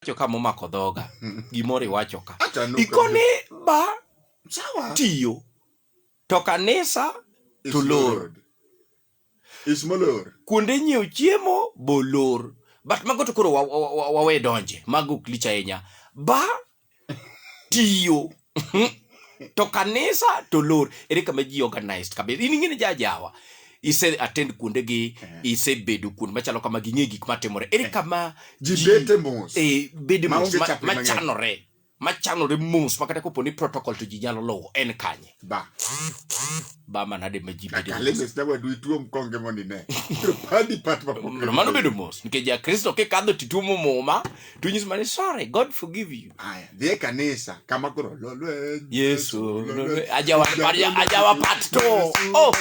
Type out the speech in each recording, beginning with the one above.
Acho kama omako dhoga. Gimoro iwacho ka. Acha nuka. Ikone ba Sawa. tiyo. To kanisa Is to lor. Lord. Is molor. Kuonde nyiewo chiemo bolor. But mago to koro wa- wa- wa- wawe donje. Mago ok lich ahinya. Ba tiyo. to kanisa to lor ere kama ji organized kabisa in ing'e ni jajawa ise attend kuonde gi eh. ise bedo kuonde machalo kama ging'e gik matimore ere eh. kama ji bete mos eh bede mos machanore machanore mos makata kopo ni protocol to ji nyalo lowo en kanye ba ba manade ma ji bede mos dawa du tuo mkonge moni ne padi pat mano bedo mos nikech ja kristo kikadho tituomo muma to nyis mani sorry god forgive you Aya, dhi e kanisa kama koro lo lweny. yesu lolwe- ajawa aja- ajawa pat to oh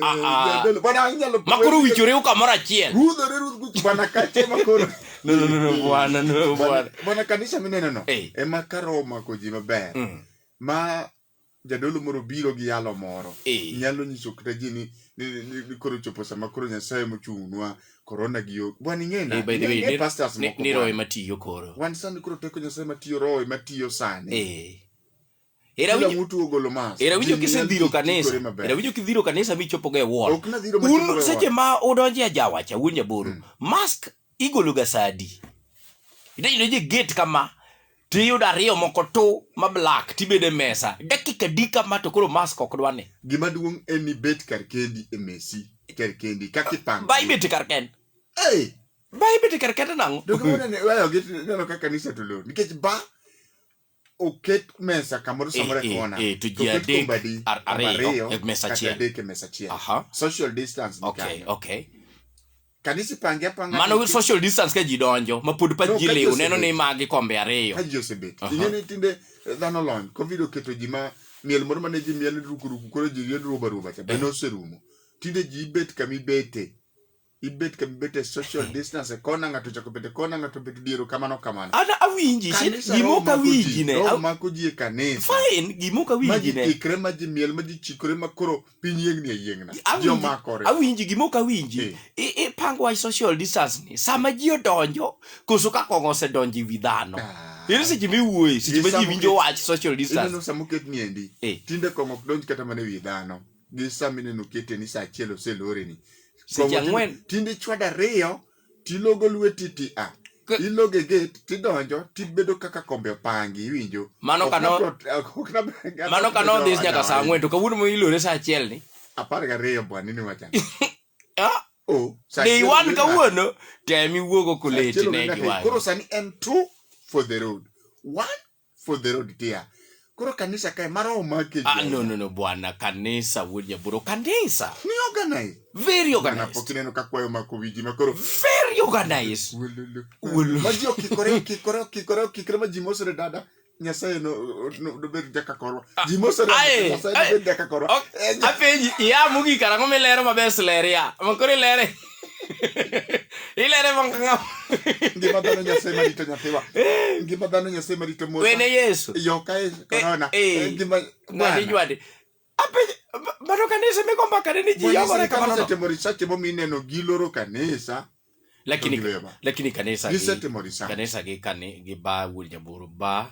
ah, ah. Jadolo, Bwana anyalo makoro kwe- wichoreu kamoro achiel Rudhore rudh guch bwana kache makoro. no no no no bwana no bwana Bwana- Bwana kanisa mineno no. Eh. Ema karo omako ji maber. Mm. Ma jadolo moro biro gi yalo moro eh. nyalo nyiso kata ji ni ni koro chopo sama koro nyasaye mochungnwa korona gi yo bwana ing'ena eh, ing'e pastors moko ni roho matiyo koro wan sani koro teko nyasaye matiyo roho matiyo sani eh. era winjo ogolo mas era winjo kisedhiro kanisa era winjo kidhiro kanisa michopo ga e wall un seche ma udonje ajawacha wuon jaboro hmm. mask igologa sa adi? Idonjo je gate kama to iyudo ariyo moko tu ma black tibedo e mesa dakika di kama to koro mask ok dwa ni. Gima duong' en ni bet kar kendi e mesi kar kendi kaka ipango. Ba ibet kar kendi. Hey! Ba ibet kar kendi nang'o? Dogo ne ne wayo gate neno kaka kanisa to lor nikech ba oket mesa kamoro eh, samoro e eh, kona eh, to ji adek ariyo e mesa achiel adek e mesa achiel social distance okay okay kanisa ipange apanga mano with social distance ka ji donjo ma pod pa ji lew neno ni magi kombe ariyo ka ji osebet ing'e ni tinde dhano lony covid oketo ji ma miel moro mane ji miel rukuruku koro ji ried ruba ruba cha bende oserumo tinde ji ibet kama ibete ibet ka bibet e social distance e kona ng'ato ochako bet e kona ng'ato bet diero kamano kamano an awinji shit, Kanisa gima roho ok mako awinji ji, ne roho aw- mako ji e kanisa fine gima ok ma awinji ji ne ikre ma ji miel ma ji chikore ma koro piny yiengni e yiengna ji Awinji- omakore awinji gima ok awinji Eh. I- ipango wach social distance ni sama ji odonjo koso ka kong'o osedonjo e wi dhano Ah. ere seche miwuoye seche ma ji Isamo winjo ki- wach social distance ineno sama oketni endi Eh. tinde kong'o ok donj kata mana e wi dhano gi sama ineno kete ni saa achiel oseloreni Seche ang'wen. tinde ichwado ariyo tilogo lweti ti a K- ilogo e gate tidonjo tibedo kaka kombe opangi iwinjo Mano Ok kano- nabro- ok- ok nabro- mano ka nodhis nyaka saa ang'wen to kawuono ma ilore saa achiel ni apar gariyo bwani ni wacha Ah, o saa day achiel one onge kawuono tem iwuogo Saa achiel onge koleti ne ng'ato. gi koro wang'e sani en two for the road one for the road tia koro kanisa kae mara omake ah, no, no, no, bwana kanisa wuod nyaburo kanisa ni organize very organized pok ineno ka kwayo mako wiji ma koro very organized ma ji okikore okikore okikore okikore ma ji mosore dada nyasaye no dobed jaka korwa ah, ji mosore nyasaye dobed jaka korwa apenji iya mugi karang'o milero maber sleria ma koro ilere Ile ne mong ngam. Ngima dhano Nyasaye marito nyathiwa. Ngima dhano Nyasaye marito Musa. Wene Yesu. Yo ka e corona. Ngima ngani jwadi. Ape bado kanisa meko mbaka ni ji yogo reka mano. Kanisa temo research mo mineno giloro kanisa. Lakini lakini kanisa gi kanisa gi kani gi ba wul jaburu ba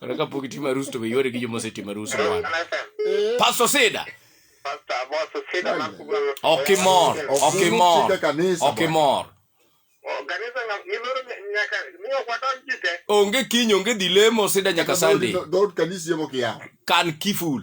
Kata kapok itimo arus to be yware gi joma osetimo arus mwan. Pastor Sida, ok imor, ok imor, ok imor. Onge kiny, onge dhi lemo Sida nyaka Sunday. Dhood kanisa yemo kia. Kan kiful.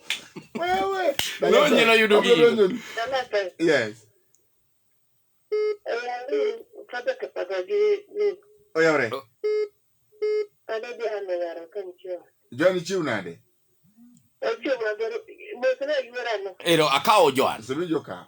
Wewe. Leo nyela yudo gi. Yes. Oyore. John chiw nade? Ero akawo Joan. Sebe joka.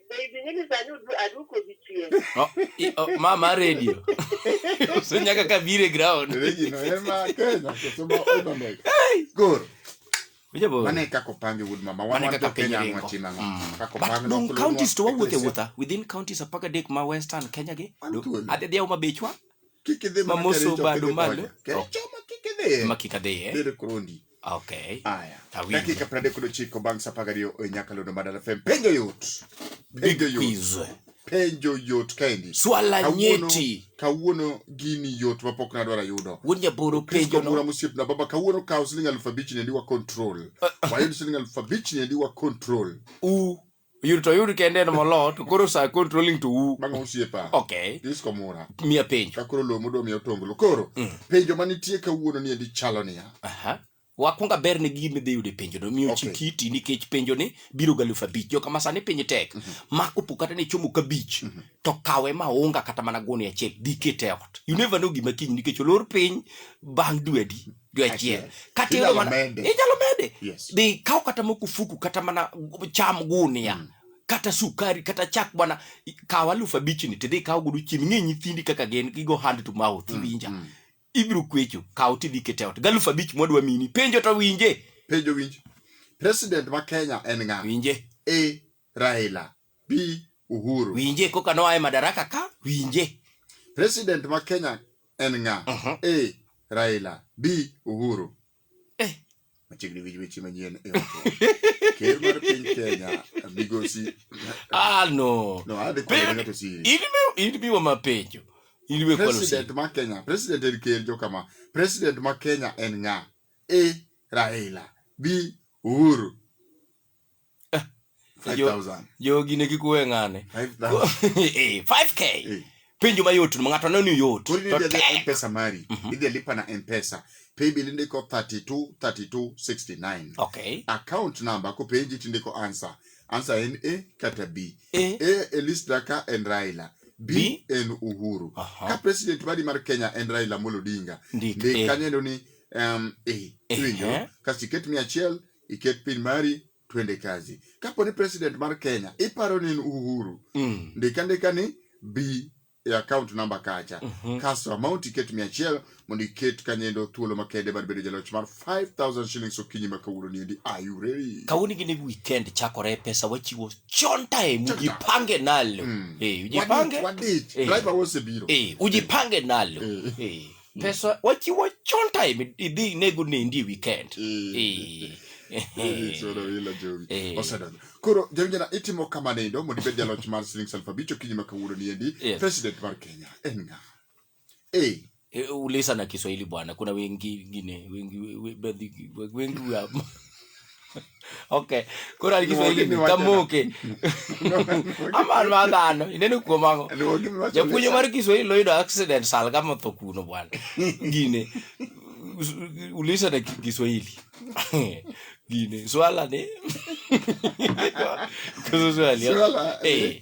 oh, mama radio osenya kaka bire ground mane kako pange wuod mama wan wan Kenya ang'o china ng'o mm. kako pange no kulunwa counties to wawuothe wuotha within counties apaka dek ma western Kenya gi adhi adhi ma bechwa kikidhi ma moso bado malo kikidhi ma kikadhi eh? bere krondi Okay. Aya. Awinjo. Dakika 39 bang' saa 12 e Nyakalondo Madala FM. Penjo yot. Big Penjo yot. quiz. Penjo yot kaendi. Swala Kawuono- nyeti. Kawuono gini yot mapok nadwaro ayudo. Wuod Nyaboro Kristo penjo mura no. mosiepna baba kawuono kawo siling alufu abich niendi wa control. Wayud siling alufu abich niendi wa control. U oyud to oyud kende en molo to koro sa controlling to u bang' osiepa okay this komura miya penjo ka koro lomo do miya otonglo koro mm. penjo manitie kawuono ni endi chalo niya aha wakwonga ber ne gini dhi yude penjo no miyo okay. chikiti nikech penjo ni biro ga lufa bich joka masani piny tek mm -hmm. mako po kata ne chomo kabich mm -hmm. to kawe ma onga kata mana goni achiel dikete ot you never know gima kiny nikech olor piny bang' dwedi gi achiel kata Inyalo iyudo mana mede. inyalo mede Yes. dhi kaw kata mokufuku kata mana cham gunia Mm. kata sukari kata chak bwana i- kaw alufu abichni tidhi kaw godo chiemb ing'e nyithindi kaka gin gigo hand to mouth Mm, iwinja mm. ibiro kwecho kaw tidhi kete ot galufu abich mwadwa mini penjo to winje Penjo winj. President ma Kenya en ng'a? winje A. Raila bi Uhuru. Winje koka noa e madaraka ka winje. President ma Kenya en ng'a? Uh -huh. A. Raila B. Uhuru. Eh. Machiegni winj weche manyien e Ker mar piny Kenya migosi. Ah no. No, adhi kwere ng'ato siri. In biwa mapenjo. In biwa kwalo siri. President ma Kenya, president en ker jo kama. President ma Kenya en ng'a? A. Raila B. Uhuru. 5000 jogi ne kikuwe ng'ane 5000 Eh, 5k Eh. penjo mayot no ng'ato neno yot koro to idhi tek. adhi mpesa mari Mhm. idhi lipa na mpesa paybill indiko 32 32 69 okay account number kopenji tindiko answer answer en a kata b Eh. a e list daka en raila b, B. en uhuru Aha. ka president mari mar kenya en raila molo odinga Ndik ndik A. kanyo endo ni um, a Eh, iwinjo eh. kasto iket mia achiel iket pin mari twende kazi kapo ni president mar kenya iparo ni en uhuru mm. ndika ndika ni bi e account number kacha mm -hmm. kasto amount iket mia achiel mondo iket kanyendo thuolo makende mar bedo jaloch mar 5000 shillings okinyi ma kawuono niendi ayureri kawuono gini weekend chakore pesa wachiwo chon time ujipange nalo mm. hey, eh, ujipange wadich hey. Eh. driver wosebiro hey. Eh, ujipange nalo hey. Hey. Mm. pesa wachiwo chon time idhi inego nendi e weekend Eh. Eh. Chuno ila jowi. Eh. Osedonjo. Koro jawinjana itimo kamano endo mondo ibed jaloch mar siling aluf abich okinyi ma kawuono ni endi Yes. president mar Kenya en ng'a? Eh, Eh, uliza na kiswahili bwana kuna wengi ngine wengi we- we- baadhi- wengi wa- okay kora ari kiswahili ni tamuke amar madano inene kuomango ya kunyo mar kiswahili loido accident sal kama to kuno bwana gine ulisa na kiswahili gine swala ne kuzo swali eh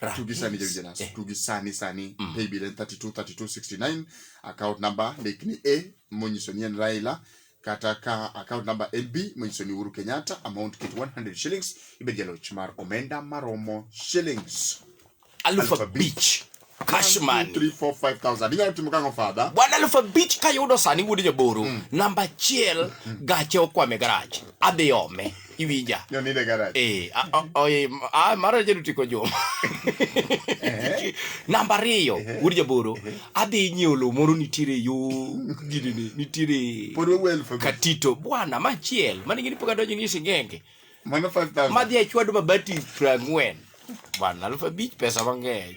Rahis. tugi sani jawinjo Eh. naso tugi sani sani Mm. paybill en 32 32 69 account number mek ni a monyiso ni en raila kata ka account number en b monyiso ni uhuru kenyatta amount kit 100 shillings ibed jaloch mar omenda maromo shillings Aluf Aluf abich. abich. Cash money. 3 4 5000 inyalo timo kang'o fadha bwana aluf abich kayudo sani wuod jaboro namba achiel gache okwame garach adhi ome iwinja Noninde garaj. Eh, a- a- oye, m- a- mara jadu tiko joma namba ariyo wuod jaboro adhi nyiewo lo moro nitiere yo gidini nitiere Pod wawuoyo elfu abich. katito bwana machiel mane gini pok adonjo ni singenge Mano 5,000. madhi achwado mabati prang'wen bwana alfu abich pesa mang'eny